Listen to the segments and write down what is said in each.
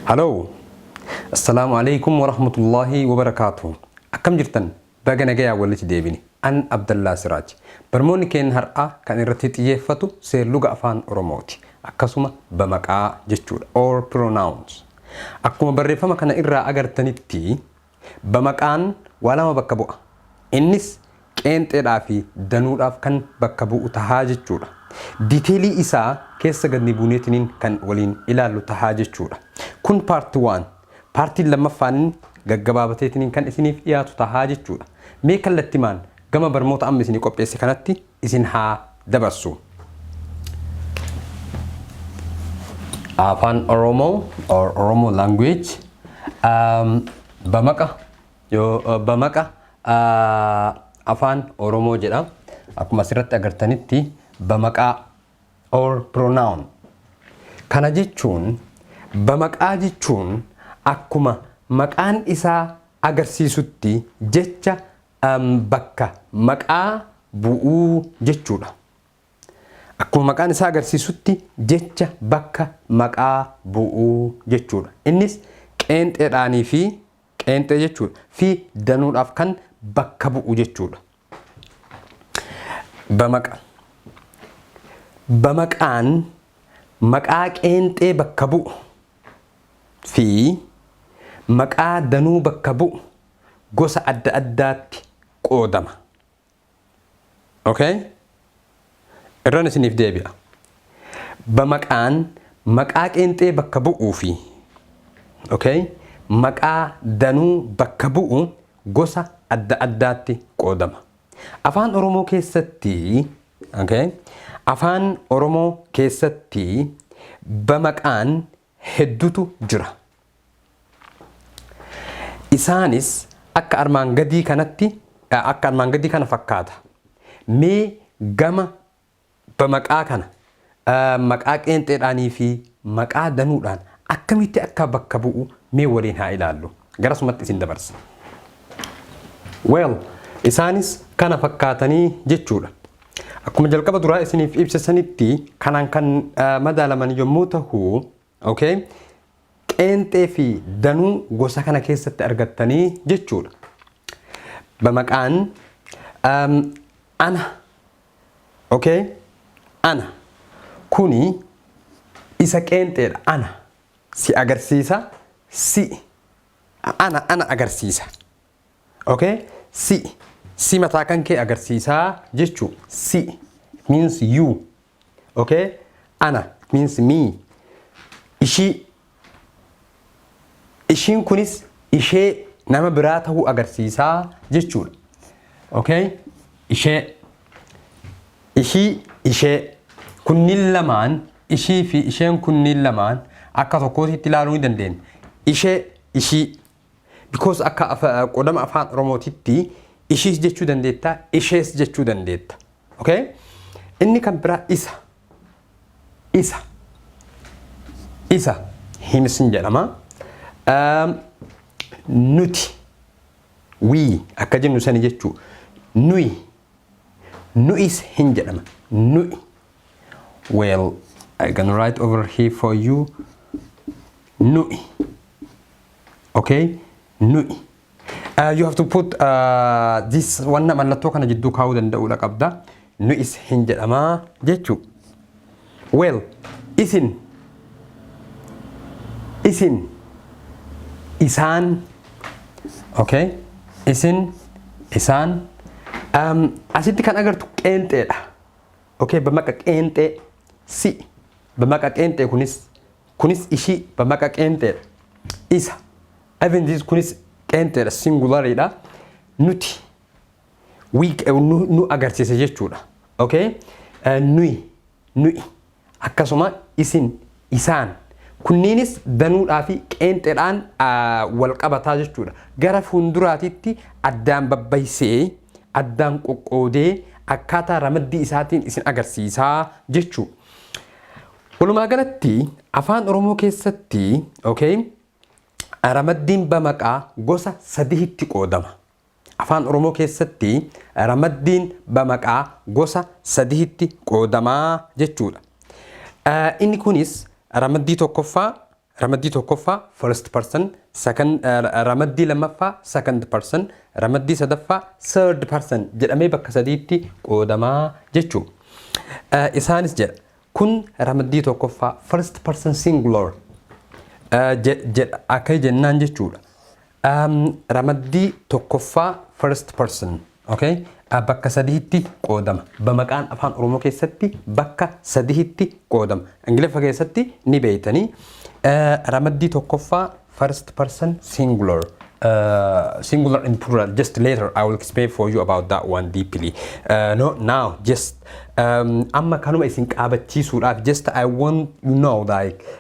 Haloo! Assalaamu alaikum warahmatullaahi wabarakaatuh. Akkam jirtan? Baga nagayaa walitti deebine. An Abdallaa Siraaj. Barmoonni keenya har'aa kan irratti xiyyeeffatu seerluga afaan Oromooti. Akkasuma bamaqaa jechuudha. Or pronouns. Akkuma barreeffama kana irraa agartanitti Bamaqaan waa lama bakka bu'a. Innis qeenxeedhaa fi danuudhaaf kan bakka bu'u tahaa jechuudha. Detailii isaa keessa gadni buuneetiniin kan waliin ilaallu tahaa jechuudha. Kun part one. Partiin lammaffaan gaggabaabateetiniin kan isiniif dhiyaatu tahaa jechuudha. Mee kallattimaan gama barmoota amma isinii qopheesse kanatti isin haa dabarsu. Afaan Oromoo or Oromo language um, bamaqa yo bamaqa uh, afaan Oromoo jedha. Akkuma asirratti agartanitti bamaqaa or pronoun. Kana jechuun bamaqaa jechuun akkuma maqaan isaa agarsiisutti jecha bakka maqaa bu'uu jechuudha. Akkuma maqaan isaa agarsiisutti jecha bakka maqaa bu'uu jechuudha. Innis qeenxeedhaanii fi qeenxee jechuudha fi danuudhaaf kan bakka bu'u jechuudha. Bamaqa. Bamaqaan maqaa qeenxee bakka bu'u fi maqaa danuu bakka bu'u gosa adda addaatti qoodama. Ok? Irran isiniif deebi'a. Bamaqaan maqaa qeenxee bakka bu'uu fi ok? maqaa danuu bakka bu'u gosa adda addaatti qoodama. Afaan Oromoo keessatti ok? Afaan Oromoo keessatti bamaqaan heddutu jira. Isaanis akka armaan gadii kanatti akka armaan gadii kana fakkaata. Mee gama bamaqaa kana maqaa qeenxeedhaanii fi maqaa danuudhaan akkamitti akka bakka bu'u mee waliin haa ilaallu. Garasumatti isin dabarsa. Well, isaanis kana fakkaatanii jechuudha. Akkuma jalqaba duraa isiniif ibsa sanitti kanaan kan madaalaman yommuu tahu, okay? qeenxee fi danuu gosa kana keessatti argattanii jechuudha. Bamaqaan um, ana, okay? ana kuni isa qeenxeedha ana si agarsiisa si ana ana agarsiisa Okay? Si. Si mataa kan kee agarsiisaa jechuu. Si means you. Okay? Ana means me. Ishii. Ishiin kunis ishee nama biraa ta'uu agarsiisaa jechuudha. Okay? Ishee. Ishii ishee. Kunniin lamaan ishii fi isheen kunniin lamaan akka tokkootitti ilaaluu ni dandeenya. Ishee ishii Because akka qodama afaan Oromootitti ishiis jechuu dandeetta, ishees jechuu dandeetta. Okay? Inni kan biraa isa. Isa. Isa. Himis hin jedhama. Nuti. Wii akka jennu sani jechuu. Nuyi. Nu'is hin jedhama. Nu'i. Well, I can write over here for you. Nu'i. okay nu'i uh, you have to put uh, this wanna mallattoo kana jidduu kaa'uu danda'uudha qabda nu is hin jedhamaa jechuu well isin isin isaan okay isin isaan um, asitti kan agartu qeenxeedha okay bamaqa qeenxee si bamaqa qeenxee kunis Kunis ishii bamaqa qeenxeedha. Isa, even this, kunis qeenxeedha, singular dha. Nuti, we, nu, nu agarsiisa jechuudha. Okay? Eh, Nuyi, nuyi. Akkasuma isin, isaan. Kunniinis danuudhaa fi qeenxeedhaan ah, wal qabataa jechuudha. Gara fuulduraatitti addaan babbaysee, addaan qoqqoodee akkaataa ramaddii isaatiin isin agarsiisaa jechuu. Walumaa galatti Afaan Oromoo keessatti okay, ramaddiin bamaqaa gosa sadihitti qoodama. Afaan Oromoo keessatti ramaddiin bamaqaa gosa sadihitti qoodamaa jechuudha. Inni kunis ramaddii tokkoffaa, Ramaddii tokkoffaa, first person, second, ramaddii lammaffaa, second person, ramaddii sadaffaa, third person jedhamee bakka sadiitti qoodamaa jechuu. Isaanis jedha. Kun ramaddii tokkoffaa, first person singular, jedha akka jennaan jechuudha. Um, ramaddii tokkoffaa first person okay? A bakka sadihitti qoodama. Bamaqaan afaan Oromoo keessatti bakka sadihitti qoodama. Ingiliffa keessatti ni beeytanii. Uh, ramaddii tokkoffaa first person singular. Uh, singular and plural just later I will explain for you about that one deeply. Uh, no, now just um, amma kanuma isin qaabachiisuudhaaf just I want you know like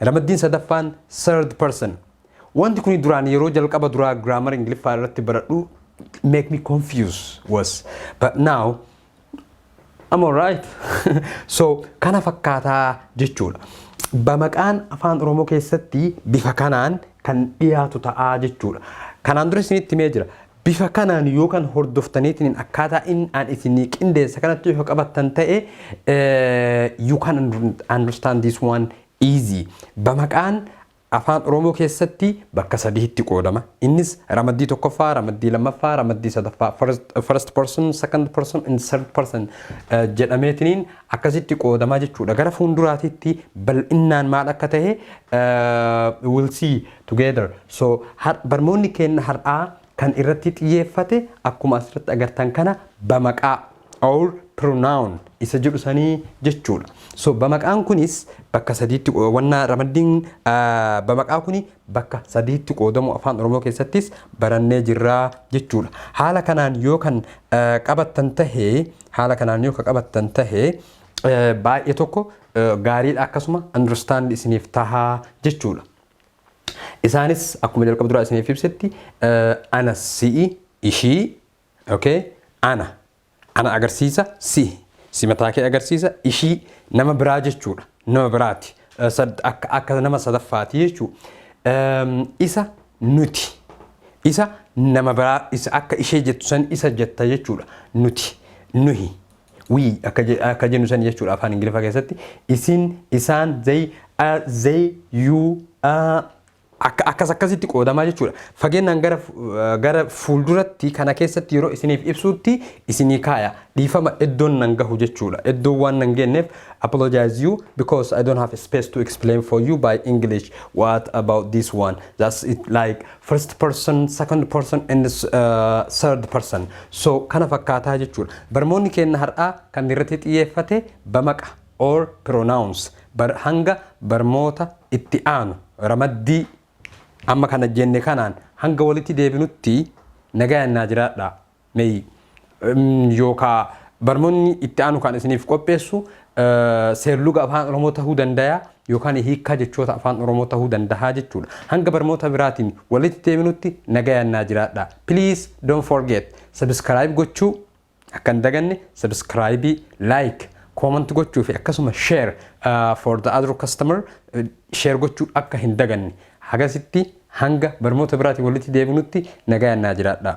Ramaddiin sadaffaan third person. Wanti kuni duraan yeroo jalqaba duraa grammar Ingiliffaa irratti baradhu make me confuse was but now I'm alright. so kana fakkaataa jechuudha. Bamaqaan afaan Oromoo keessatti bifa kanaan kan dhiyaatu ta'aa jechuudha. Kanaan dura isinitti himee jira. Bifa kanaan yoo kan hordoftaniitiin akkaataa in aan isinii qindeessa kanatti yoo qabattan ta'e you can understand this one easy. Bamaqaan afaan Oromoo keessatti bakka sadiitti qoodama. Innis ramaddii tokkoffaa, ramaddii lammaffaa, ramaddii sadaffaa first person, second person and third person jedhameetiniin akkasitti qoodamaa jechuudha. Gara fuulduraatitti bal'innaan maal akka ta'e we'll see together so har barmoonni keenna har'aa kan irratti xiyyeeffate akkuma asirratti agartan kana bamaqaa or pronoun isa jedhu sanii jechuudha so bamaqaan kunis bakka sadiitti wanna ramaddiin ah, bamaqaa kuni bakka sadiitti qoodamu afaan oromoo keessattis barannee jirraa jechuudha haala kanaan yoo kan ah, qabattan tahe haala kanaan yoo ka qabattan tahe eh, baay'ee tokko eh, gaariidha akkasuma understand isiniif tahaa jechuudha Isaanis akkuma jalqaba duraa isiniif ibsetti ana si'i ishii okay ana ana agarsiisa si si mataa kee agarsiisa ishii nama biraa jechuudha nama biraati akka akka nama sadaffaati jechuu isa nuti isa nama biraa isa akka ishee jettu san isa jetta jechuudha nuti nuhi We akka je- akka jennu sani jechuudha afaan Ingiliffaa keessatti isin, isaan, they, a, they, you, a, akka akkas akkasitti qoodamaa jechuudha. Fageennaan gara fu- eh, gara fuulduratti kana keessatti yeroo isiniif ibsuutti isinii kaaya. Dhiifama iddoon nan gahu jechuudha. Iddoon waan nan geenneef apologize you because I don't have space to explain for you by English what about this one. That's it like first person, second person and uh, third person. So kana fakkaataa jechuudha. Barmoonni keenya har'aa kan irratti xiyyeeffate bamaqa or pronouns bar hanga barmoota itti aanu ramaddii amma kana jenne kanaan hanga walitti deebinutti nagayaan naa jiraadhaa. May yookaa barnoonni itti aanu kan isiniif qopheessu seerluga afaan Oromoo tahuu dandaya yookaan hiikkaa jechoota afaan Oromoo tahuu dandahaa jechuudha. Hanga barnoota biraatiin walitti deebinutti nagayaan naa jiraadha. Please don't forget subscribe gochuu akka hin daganne subscribe, like, comment gochuu fi akkasuma share uh, for the other customer uh, share gochuu akka hin daganne. Hagasitti hanga barnoota biraatiin walitti deebinutti nagayaan naa jiraadha.